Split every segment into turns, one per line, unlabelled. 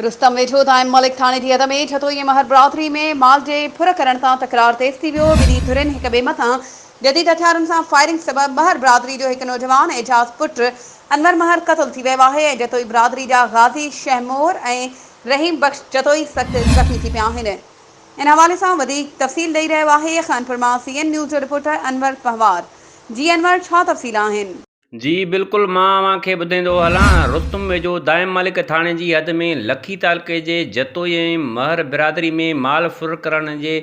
رستم ويٺو تائين ملڪ ٿاڻي جي حد ۾ ٺٽو ۽ مهر برادري ۾ مال جي ڦر ڪرڻ تان تڪرار تيز ٿي ويو. ٻنهي ڌرين هڪ ٻئي مٿان جديد هٿيارن سان فائرنگ سبب مهر برادري جو هڪ نوجوان اعجاز پٽ انور مهر قتل ٿي ويو آهي ۽ جتوئي برادري جا غازي شهمور ۽ رحيم بخش جتوئي سخت زخمي ٿي پيا آهن. ان حوالي سان وڌيڪ تفصيل ڏئي رهيو آهي خانپور مان سي اين نيوز جو رپورٽر انور پنهوار. جي انور ڇا تفصيل آهن؟ جي بلڪل
مان اوهان کي ٻڌائيندو هلان. رستم ويجهو دائم مالڪ ٿاڻي جي حد ۾ لکي تعلقي جي جتوئي ۽ مهر برادري ۾ مال ڦر ڪرڻ جي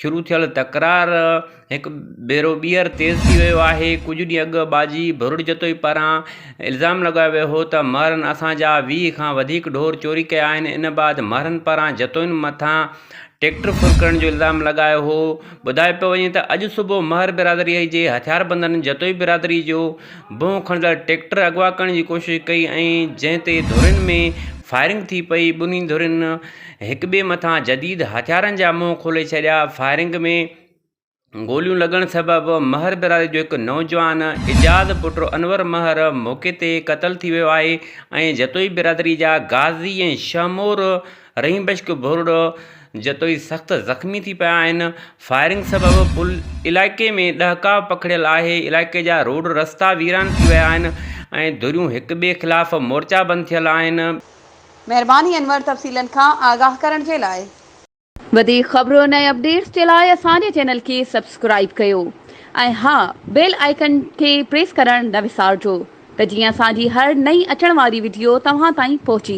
شروع ٿيل تڪرار هڪ ڀيرو ٻيهر تيز ٿي ويو آهي. ڪجهه ڏينهن اڳ ٻاجهي ڀرڙ جتوئي پاران الزام لڳايو ويو هو ته مهرن اسان جا ويهه کان وڌيڪ ڍور چوري ڪيا آهن. ان بعد مهرن پاران جتوئين مٿان ٽريڪٽر ڦرڪڻ جو الزام لڳايو هو ٻڌايو پيو وڃي ته اڄ صبح مهر برادري جي هٿياربندن جتوئي برادري جو بنهه کڻندڙ ٽريڪٽر اغوا ڪرڻ جي ڪوشش ڪئي ۽ جنهن تي ڌرين ۾ فائرنگ ٿي پئي ٻنهي ڌرين هڪٻئي مٿان جديد هٿيارن جا منهن کولي ڇڏيا فائرنگ ۾ گوليون لڳڻ سبب مهر برادري جو هڪ نوجوان ايجاز پٽ انور مهر موقعي تي قتل ٿي ويو آهي ۽ جتوئي برادري جا غازي ۽ شهمور رحيم بخش ڀورڙو جتوئي سخت زخمي ٿي پيا آهن فائرنگ سبب پل علائقي ۾ ڏهڪاء پکڙيل آهي علائقي جا روڊ رستا ويران ٿي ويا آهن ۽ ڌريون هڪ ٻئي خلاف مورچا بند ٿيل آهن مهرباني
انور تفصيلن کان آگاهه ڪرڻ جي لاء. وڌيڪ خبرن ۽ اپڊيٽس جي لاء اسان جي چينل کي سبسڪرائيب ڪيو ۽ ها بيل آئيڪن کي پريس ڪرڻ نه وسارجو ته جيئن اسان جي هر نئين اچڻ واري وڊيو توهان تائين پهچي